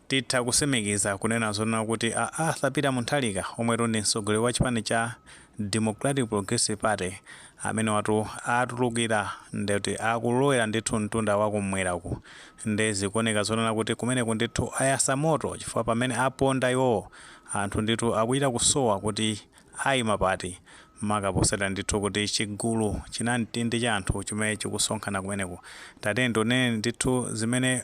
titha kutsimikiza kunena zonena kuti a arthur peter mutharika omwetu ndi mtsogoleri wa chipani cha democratic progressive party amenewatu atulukira ndikuti akulowera ndithu mtunda wa kum'mweraku nde zikuoneka zonena kuti kumeneku ndithu ayasa moto chifukwa pamene aponda iwowo anthu ndithu akuchita kusowa kuti ayima pati maka potsatira ndithu kuti chigulu chinamtindi cha anthu chimene chikusonkhana kumeneku tatiyeni tionere ndithu zimene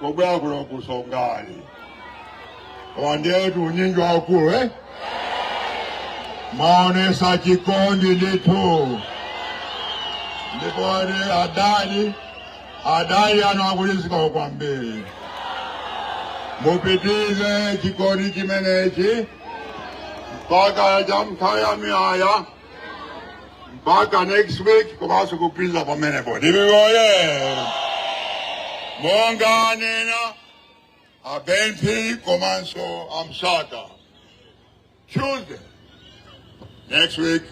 kubwera kuno ku songani wandetu unyinji waukulu eh? mwaonetsa chikondi ndithu ndipo ni adadi adadi anakulizikawo kwambiri mupitize chikondi chimenechi mpaka cha nthawi ya muyaya mpaka next week komanso kupitiriza pamenepo dpp oye monga anena a ben phiri komanso a msaka tuesday next week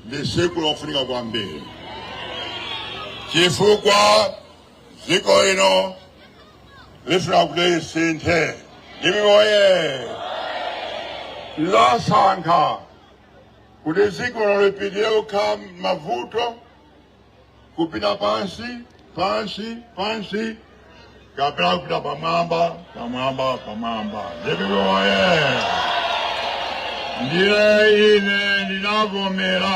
ndi tsiku lofunika kwambiri chifukwa dziko ino lifuna kuti lisinthe dpp oye lasankha kuti dziko lino lipitirire kukhala mavuto kupita pansi pansi pansi kapena kupita pamwamba pamwamba pamwamba dpp oye ndiye ine ndinavomera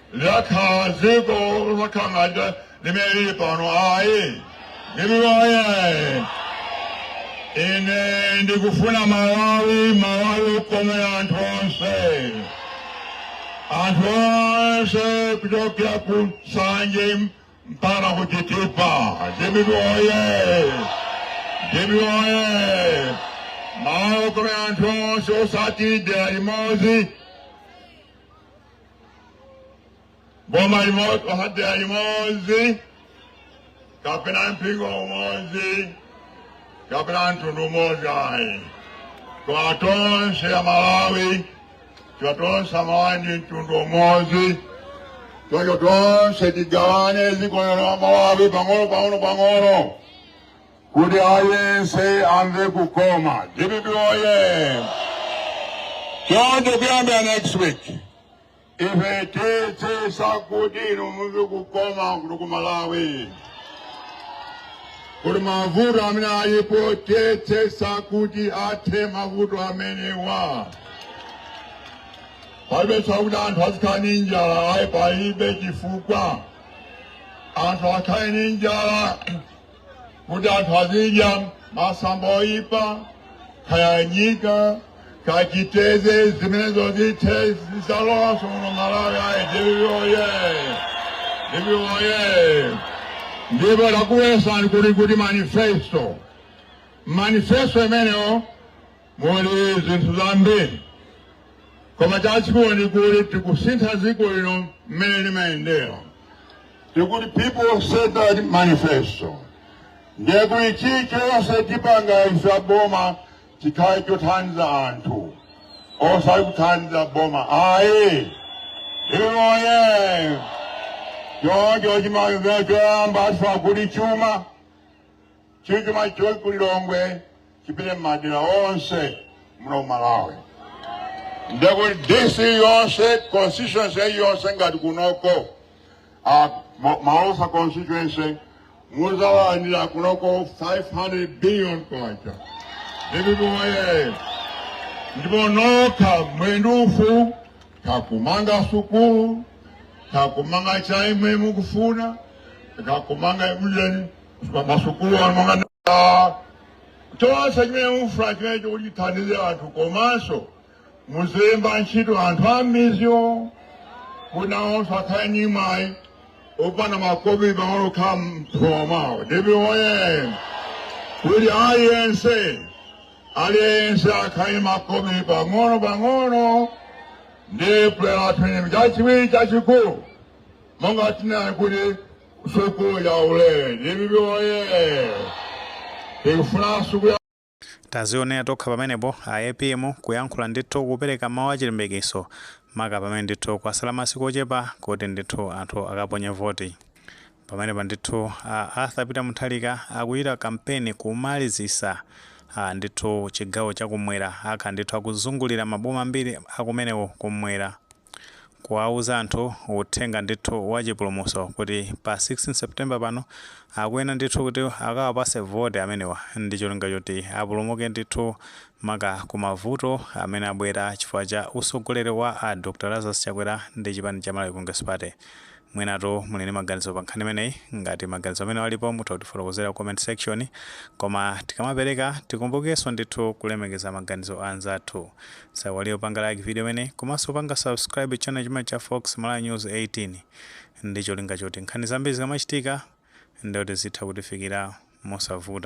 lakhala dziko losauka ngati mmene lili pano ayi dpp oye ine ndikufuna malawi malawi okomera anthu onse anthu onse kuchokera ku nsanje mpaka ku chitipa dpp oye dpp oye malawi okomera anthu onse osati dera limodzi boma limodzi osati dera limodzi kapena mpingo umodzi kapena mtundu umodzi ayi koma tonse amalawi chifukwa tonse amalawi ndi mtundu umodzi choncho tonse tigawane dziko lino la malawi pang'ono pang'ono pang'ono kuti aliyense amve kukoma dpp oye chonde kuyambira next week ife tiyetsetsa kuti inu mumve kukoma kuno ku malawi kuti mavuto amene alipo tiyetsetsa kuti athe mavuto amenewa palibe chakuti anthu azikhala ndi njala ayi palibe chifukwa anthu akhale ndi njala kuti anthu azidya masamba oyipa kaya nyika kaya chiteze zimenezo zithe zisalowenso muno malawi ayi DPP oye DPP oye ndipo takuuzani kuti kuti manifesto manifesto imeneyo muli zinthu zambiri koma chachikulu ndi kuti tikusintha dziko lino mmene limayendera tikuti people centered manifesto ndiye kuti chilichonse tipanga ife boma chikhale chothandiza anthu osati kuthandiza boma ayi DPP oye choncho chimamvera choyamba tifuna kuti chuma Chuma chili ku Lilongwe chipite m'madera onse muno mu Malawi. Ndekuti DC yonse constituency yonse ngati kunoko ah, Ma- Malosa constituency muzalandira kunoko 500 billion kwacha. DPP oye ndipo nokha muwone mufuna kakumanga sukulu kakumanga chaimwe mukufuna kakumanga ujeni masukulu ano chonse chimene mufuna chimene chizathandize anthu komanso muzemba ntchito anthu a m'midzimo kuti nawonso akhale ndi mwayi opanga makobi pang'ono okhala m'thumba mwawo DPP oye kuti aliyense aliyense akhale ndi makobi pang'ono pang'ono ndi pulani yathu chachiwiri chachikulu monga tinali kuti Sukulu ya ulere, DPP oye. Tikufuna sukulu ya tazionera tokha pamenepo a apm kuyankhula ndithu kupereka mawu achilimbikitso maka pamene ndithu kwasala masiku ochepa kuti ndithu anthu akaponye voti pamenepa ndithu a arthur peter mutharika akuchita kampeni kumalizisa a ndithu chigawo chakumwera akhala ndithu akuzungulira maboma ambiri akumenewo kumwera kuwauza anthu uthenga ndithu wa chipulumutso kuti pa 16 September pano akuyenera ndithu kuti akawapase vote amenewa ndi cholinga choti apulumuke ndithu maka ku mavuto amene abwera chifukwa cha utsogoleri wa a Dr. Lazarus Chakwera ndi chipani cha Malawi Congress Party. Mwinatu muli ndi maganizo pa nkhani imeneyi. Ngati maganizo amenewo alipo mutha kutifotokozera ku comment section. Koma tikamapereka tikumbukenso ndithu kulemekeza maganizo a anzathu. Tisaiwalenso kupanga like video imeneyi komanso kupanga subscribe channel chimenechi cha Fox Malawi News 18 ndi cholinga choti nkhani zambiri zikamachitika ndiye kuti zitha kutifikira mosavuta.